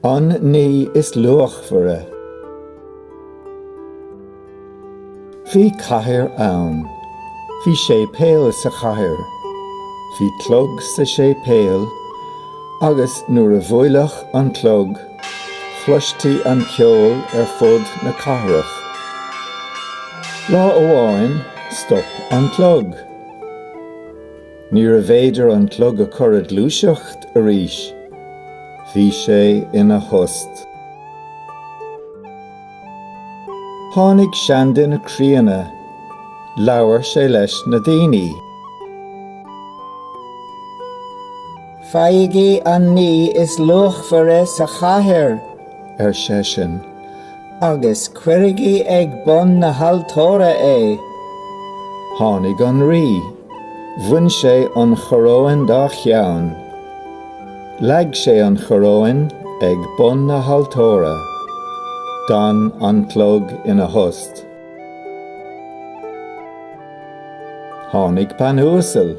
An ní is luachmhaire. Bhí cathair ann. Bhí séipéal sa chathair. Bhí clog sa séipéal agus nuair a bhuaileadh an clog chloistí an ceol ar fud na cathrach. Lá amháin stop an clog. Níorbh fhéidir an clog a chur ag gluaiseacht arís. Bhí sé ina thost. Tháinig seanduine críonna. Labhair sé leis na daoine. Faighigí an ní is luachmhaire sa chathair, ar seisean, agus cuirigí ag bun na haltóra é. Tháinig an rí. Bhain sé an choróin dá cheann. Leag sé an choróin ag bun na haltóra. D'fhan an clog ina thost. Tháinig bean uasal.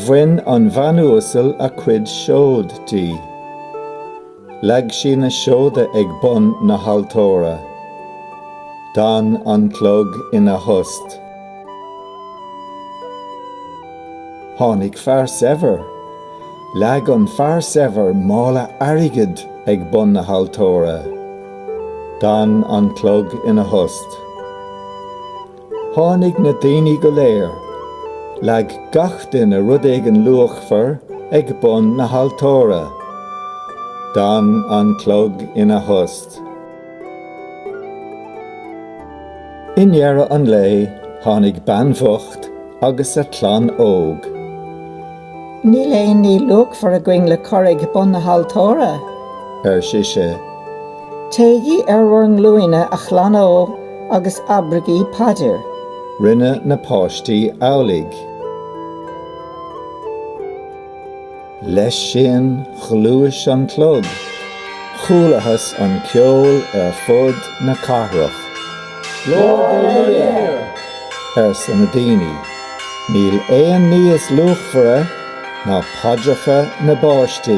Bhain an bhean uasal a cuid seod di. Leag sí na seoda ag bun na haltóra. D'fhan an clog ina thost. Tháinig fear saibhir. Leag an fear saibhir mála airgid ag bun na haltóra. D'fhan an clog ina thost. Tháinig na daoine go léir. Leag gach duine rud éigin luachmhar ag bun na haltóra. D'fhan an clog ina thost. I ndeireadh an lae, tháinig bean bhocht agus a clann óg. Níl aon ní luachmhar againn le cur ag bun na haltóra, ar sise. Téigí ar bhur nglúine, a chlann ó, agus abraigí paidir. Rinne na páistí amhlaidh. Leis sin, ghluais an clog. Chualathas an ceol ar fud na cathrach. Glóir do Dhia! arsa na daoine. Níl aon ní is luachmhaire ná paidreacha na bpáistí.